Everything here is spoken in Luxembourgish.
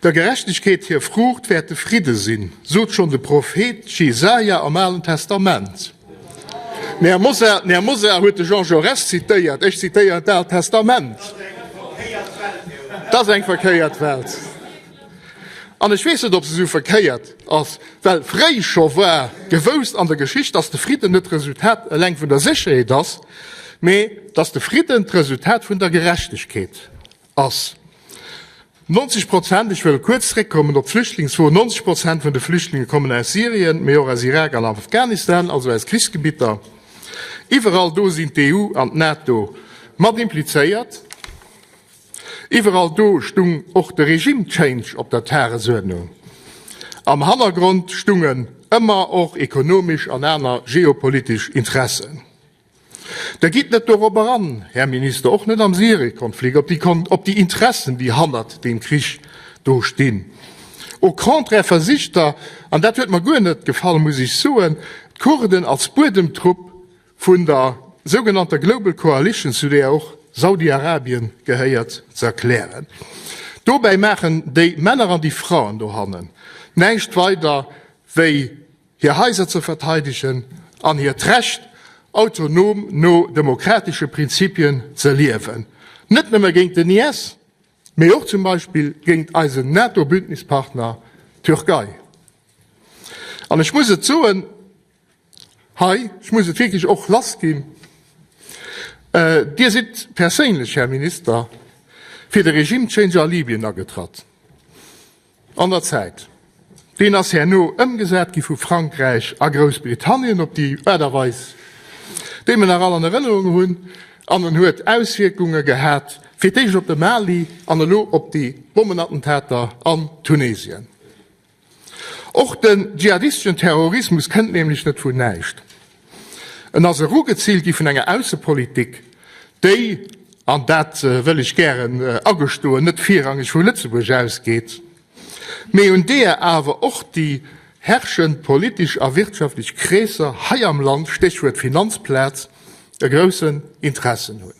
Der Gerechtegkeet hir Fruucht wäert de Fridde sinn, sot schonn de Prophet Jesaja am Alen Testament. Den Här Mosar huet de Jean Jaurès zitéiert, ech zitéieren d'Aalt Testament. Dat ass eng verkéiert Welt. An ech weess net, ob se esou verkéiert ass, well fréi scho war gewoust an der Geschicht, dass de Fridden net d'Resultat eleng vun der Sécherheet ass, mee dass de Fridden d'Resultat vun der Gerechtegkeet. ass 90 Prozent, ech wëll kuerz zréckkommen op d'Flüchtlingsfro, 90 Prozent vun de Flüchtlinge kommen aus Syrien, mee och aus Irak an Afghanistan, also aus Krichsgebitter. Iwwerall do sinn d'EU an d'NATO mat implizéiert. Iwwerall do stung och de Regime Change op der Tagesuerdnung. Am Hannergrond stungen ëmmer och ekonomesch an aner geopolitesch Interessen. Da gitt net dorop eran, Här Minister, och net am Syriekonflikt, op déi Interessen, déi hannert deem Krich do stinn. Au contraire versicht Der, an dat huet mer guer net gefall, muss ech soen, d'Kurden als Buedemtrupp vun der sougenannter Global Coalition, zu där och Saudi-Arabien gehéiert, ze erklären. Dobäi maachen déi Männer an déi Fraen dohannen näischt weider wéi, hir Haiser ze verteidegen an hiert Recht, autonom no demokratesche Prinzipien ze liewen, net nëmme géint den IS, mee och zum Beispill géint eisen NATO-Bündnispartner Türkei. An ech muss et soen hei, ech muss et wierklech och lassginn, Dir sidd perséinlech, Här Minister, fir de Regime-Change a Libyen agetratt. An der Zäit. Deen ass herno ëmgesat gi vu Frankräich a Groussbritannien op déi Aart a Weis, déi mir nach all an Erënnerung hunn, an en huet Auswierkunge gehat, fir d'éischt op de Mali an elo op déi Bommenattentater an Tunesien. Och de dschihadistischen Terrorismus kënnt nämlech net vun näischt. En ass erugeziilt gi vun enger Aussepolitik, déi, an dat wëll ech gären agestoen, net virrangeg vu Lëtzebuerg ausgeet, mee un deeër awer och déi herrschend politesch a wirtschaftlech Kreesser hei am Land, Stéchwuert Finanzplaz, e groussen Interessen hunn.